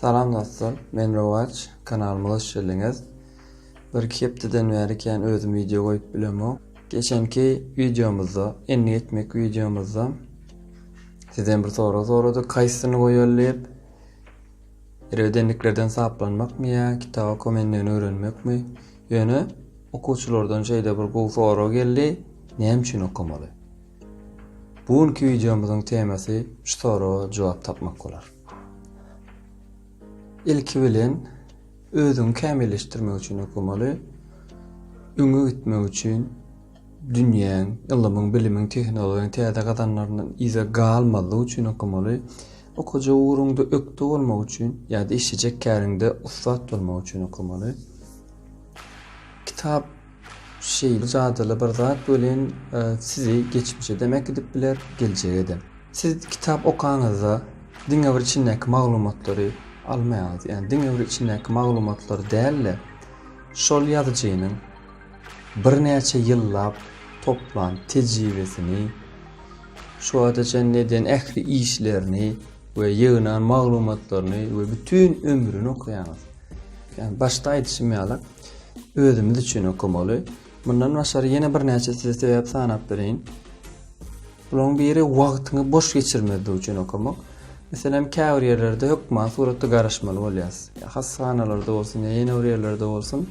Salam dostlar men Rowaç kanalymyza hoş geldiňiz Bir iki hepdeden bäri kän özüm wideo goýup bilemok Geçenki wideomyzda endik etmek wideomyzda sizden bir sorag soradyk kaýsyny goýaly diýip Erbet endiklerden saplanmakmy ýa kitaba kom endigini öwrenmekmi Ýöne okuwçylardan şeýle bir gowy sorag geldi näme üçin okamaly Bu günki wideomyzyň temasy şu soraga jogap tapmak bolar. Ilki bilen özüňi kämilleşdirmek üçin okamaly. Öňe gitmek üçin dünýäň, ylymyň, bilimiň, tehnologiýanyň täze gazananlaryndan yza galmazlyk üçin okamaly. Okajak ugruňda ökde bolmak üçin ýa-da işlejek käriňde ussat bolmak üçin okamaly. Kitap Şeýle jadyly bir zat welin, sizi geçmişe dem äkidip biler, geljege-de. Siz kitap okaňyzda diňe bir içindäki maglumatlary almaýaňyz. Ýagny diňe bir içindäki maglumatlary däl-de, şol ýazyjynyň birnäçe ýyllap toplan tejribesini, şu wagta çenli eden ähli işlerini we ýygnan maglumatlaryny we bütin ömrüni okaýaňyz. Ýagny başda aýdyşym ýaly, Özümiz üçin okamaly. Mundan başary ýene birnäçe size sebäp sanap bereýin. Bularyň biri wagtyňy boş geçirmezlik üçin okamak. Meselem, käbir ýerlerde hökman suratda garaşmaly bolýas. Ýa hassahanalarda bolsun, ýa ýene bir ýerlerde bolsun.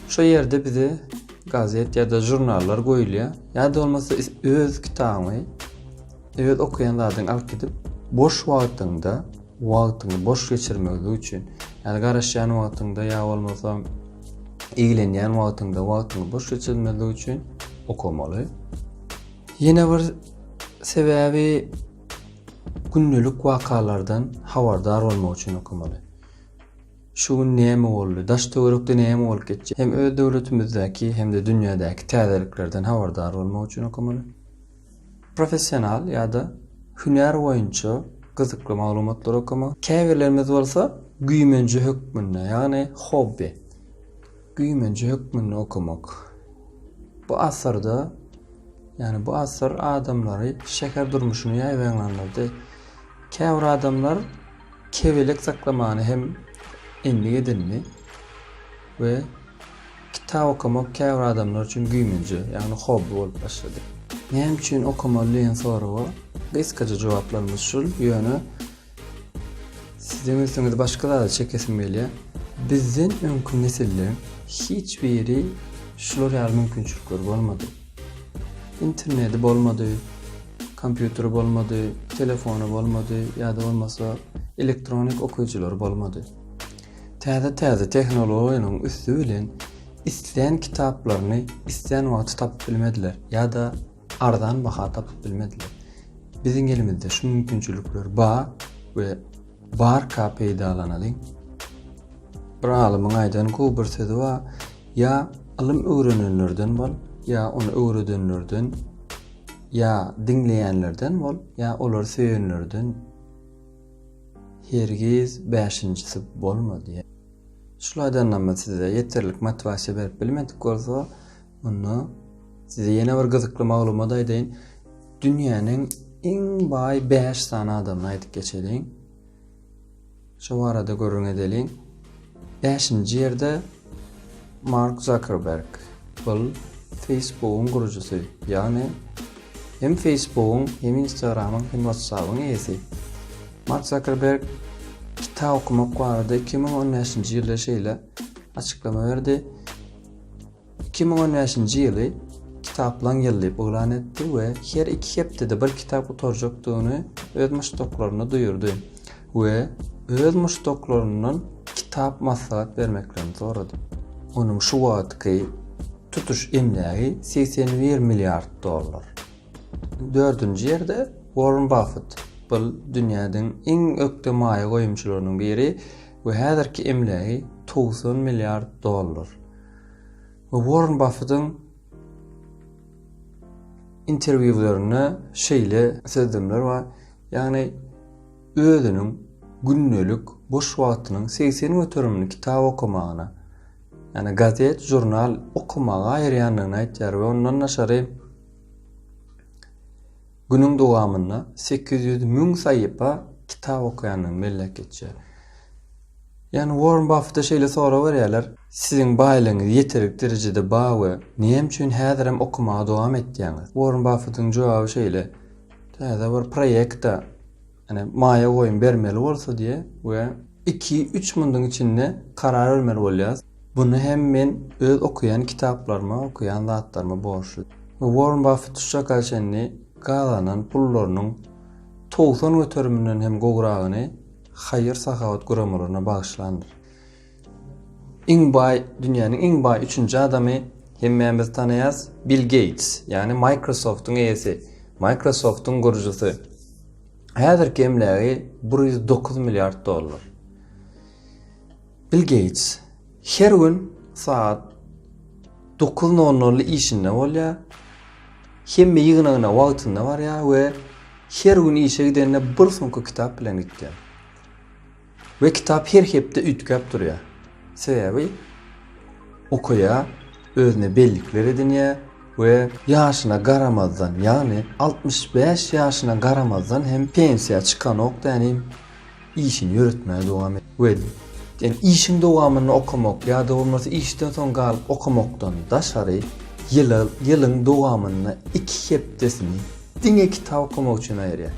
Şo ýerde bize gazet ýa-da žurnallar goýulýar. Ýa-da bolmasa öz kitabyňy öz okaýan zadyňy alyp gidip, boş wagtyňda, wagtyňy boş geçirmegi üçin, ýa garaşýan wagtyňda ýa bolmasa eýlenýän wagtyňda wagtyňy boş geçirmezlik üçin okamaly. Ýene bir sebäbi gündelik wakalardan habardar bolmak üçin okamaly. Şu gün näme boldy? Daş töwerekde näme bolup geçdi? Hem öz döwletimizdäki hem-de dünýädäki täzeliklerden habardar bolmak üçin okamaly. professional ýa-da hünär boýunça gyzykly maglumatlary okamak, käbirlerimiz bolsa güýmenje hökmünde, ýagny hobby, güýmenje hökmünde okamak. Bu asyrda, ýagny bu asyr adamlary şäher durmuşyna ýaýbaňlandyrdy. Käbir adamlar kebelek saklamany hem endik edindi. we kitap okamak käbir adamlar üçin güýmenje, ýagny hobby bolup başlady. Näme üçin okamaly diýen soraga gysgaça jogaplarymyz şul, ýöne siziň ünsüňizi başga zada çekesim gelýär. Bizden öňki nesilleriň hiç biri şular ýaly mümkinçilikleri bolmady. Interneti bolmady, kompýuteri bolmady, telefony bolmady ýa-da bolmasa elektronik okyjylary bolmady. Täze-täze tehnologiýanyň üsti bilen islän kitaplaryny islän wagty tapyp bilmediler ýa-da arzan baha tapyp bilmediler. Biziň elimizde şu mümkinçilikler bar we barka peýdalanalyň. Bir alymyň aýdan gowy bir sözi bar, ýa ylym öwrenenlerden bol, ýa ony öwredenlerden, ýa diňleýänlerden bol, ýa olary söýenlerden. Hergiz bäşinjisi bolmady. Şul aýdanymy size ýeterlik motiwasiýa berip bilmedik bolsa, onda size ýene bir gyzykly maglumat aýdaýyn. Dünýäniň iň baý bäş sany adamyny aýdyp geçeliň. Şo barada gürrüň edeliň. Bäşinji ýerde Mark Zakerberg, ol Facebookyň gurujysy, ýagny hem Facebookyň, hem Instagramyň, hem WhatsApyň eýesi. Mark Zakerberg kitap okamak barada iki müň on bäşinji ýylda şeýle açyklama berdi, Iki müň on bäşinji ýyly Kitaplaň ýyly diýip yglan etdi we her iki hepdede bir kitap gutarjakdygyny öz muşdaklaryna duýurdy we öz muşdaklaryndan kitap maslahat bermeklerini sorady. Onuň şu wagtky tutuş emlägi segsen bir milliard dollar. Dördünji ýerde Warren Buffett. Bu dünýäniň iň ökde maýa goýumçylarynyň biri we häzirki emlägi togsan milliard dollar. Warren Buffettiň interwýularynda şeýle sözlemler bar, ýagny özüniň gündelik boş wagtynyň 80 göterimini kitap okamagyna, ýagny gazet, žurnal okamaga aýyrýandygyny aýtýar we ondan daşary Günüň dowamynda sekiz ýüz müň saýypa kitap okaýandan mellek geçýär. Ýagny Uorren Baffete şeýle sorag berýärler, Siziň baýlygyňyz ýeterlik derejede bar we näme üçin häzirem okamaga dowam etýäňiz? Uorren Baffetiň jogaby şeýle, Täze bir proýekta Ýani maýa goýum bermeli bolsa diýe we iki üç munduň içinde karar bermeli bolýas. Buny hem men öz okaýan kitaplaryma okaýan zatlaryma borçly. Worren Buffett şu çaka çenli gazanan pullarynyň togsan göteriminden hem gowragyny haýyr sahawat guramalaryna bagyşlandyr. Iň baý, dünýäniň iň baý üçünji adamy hemmämiz tanaýas, Bill Geýts, ýagny Microsoft-yň eýesi, Microsoft-yň gurujysy. Häzirki emlägi bir ýüz dokuz milliard dollar. Bill Geýts her gün saat dokuz nol nolda işinde bolýar. Hemme ýygnagyna wagtynda barýar we her gün işe gidende bir sumka kitap bilen gidýär. We kitap her hepde üýtgäp durýar. Sebäbi okaýar, özüne bellikler edinýär we ýaşyna garamazdan, ýagny altmyş bäş ýaşyna garamazdan hem pensiýa çykanok dänim işini ýöretmäge dowam et. We sen işiň dowamynda okamak ýa-da bolmasa işden soň galyp okamakdan daşary ýyla ýylyň dowamynda iki hepdesini diňe kitap okamak üçin aýyrýar.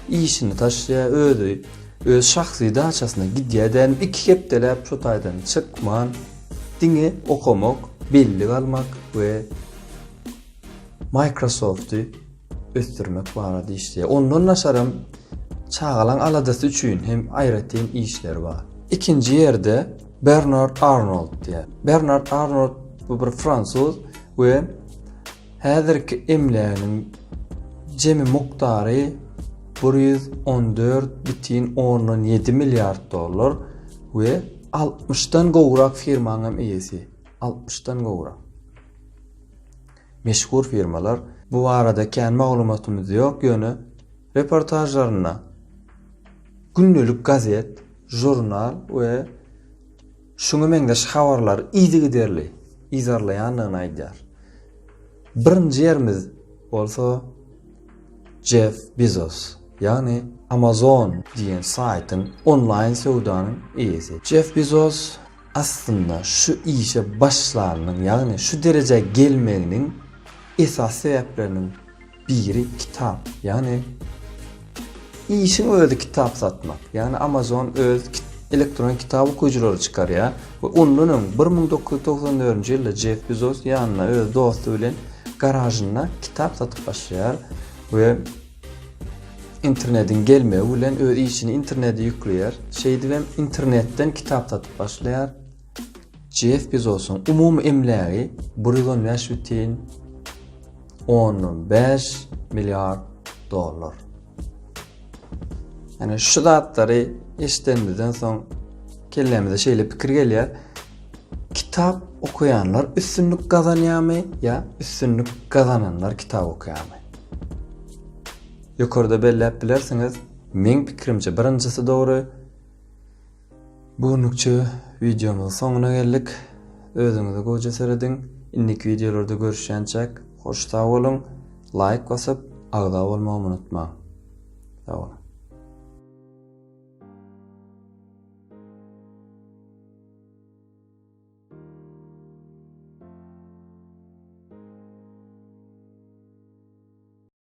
Işini taşlaýar, özi öz şahsy daçasyna gidýär dämi iki hepdeläp şu taýdan çykman diňe okamak, bellik almak we Microsofty ösdürmek barada işleýär. Ondan naşaram çagalaň aladasy üçin hem aýratyn işleri bar. Ikinji ýerde Bernard Arnold diýär. Bernard Arnold bu bir fransuz we Häzirki emläginiň jemi mukdary bir ýüz on dört bütin ondan ýedi milliard dollar we altmyş dan gowrak firmaň hem eýesi. Altmyş dan gowrak. Meşhur firmalar. Bu barada kän maglumatymyz ýok, ýöne reportažlarynda gündelik gazet, žurnal we şuňa meňzeş habarlary yzygiderli yzarlaýandygyny aýdýar. Birinji ýerimiz bolsa Jeff Bezos, ýagny Amazon diýen saýtyň onlaýn söwdanyň eýesi. Jeff Bezos aslynda şu işe başlanynyň, ýagny şu derejä gelmeginiň esasy sebäpleriniň Biri kitap, ýagny işiň özi kitap satmak. Ýagny Amazon öz elektron kitap okujylary çykarýar we ondan öň 1994-nji ýylda Jeff Bezos ýanyna öz dosty bilen garažynda kitap satyp başlaýar we internetiň gelmegi bilen öz işini internete ýükleýär. Şeýdibem internetden kitap satyp başlaýar. Jeff Bezosyň umumy emlägi bir ýüz on bäş bütin ondan bäş milliard dollar. Ýani şu zatlary eşidenimizden soň kellämize şeýle pikir gelýär. Kitap okuýanlar üstünlik gazanýarmy ýa üstünlik gazananlar kitap okuýarmy? Ýokarda belläp bilersiňiz. Meň pikirimçe birinjisi dogry. Bu günlükçe wideomyzyň soňuna geldik. Özüňize goja serediň. Indiki wideolarda görüşýänçäk, hoş sag boluň. Laýk basyp, agza bolmagy unutmaň. Sag boluň.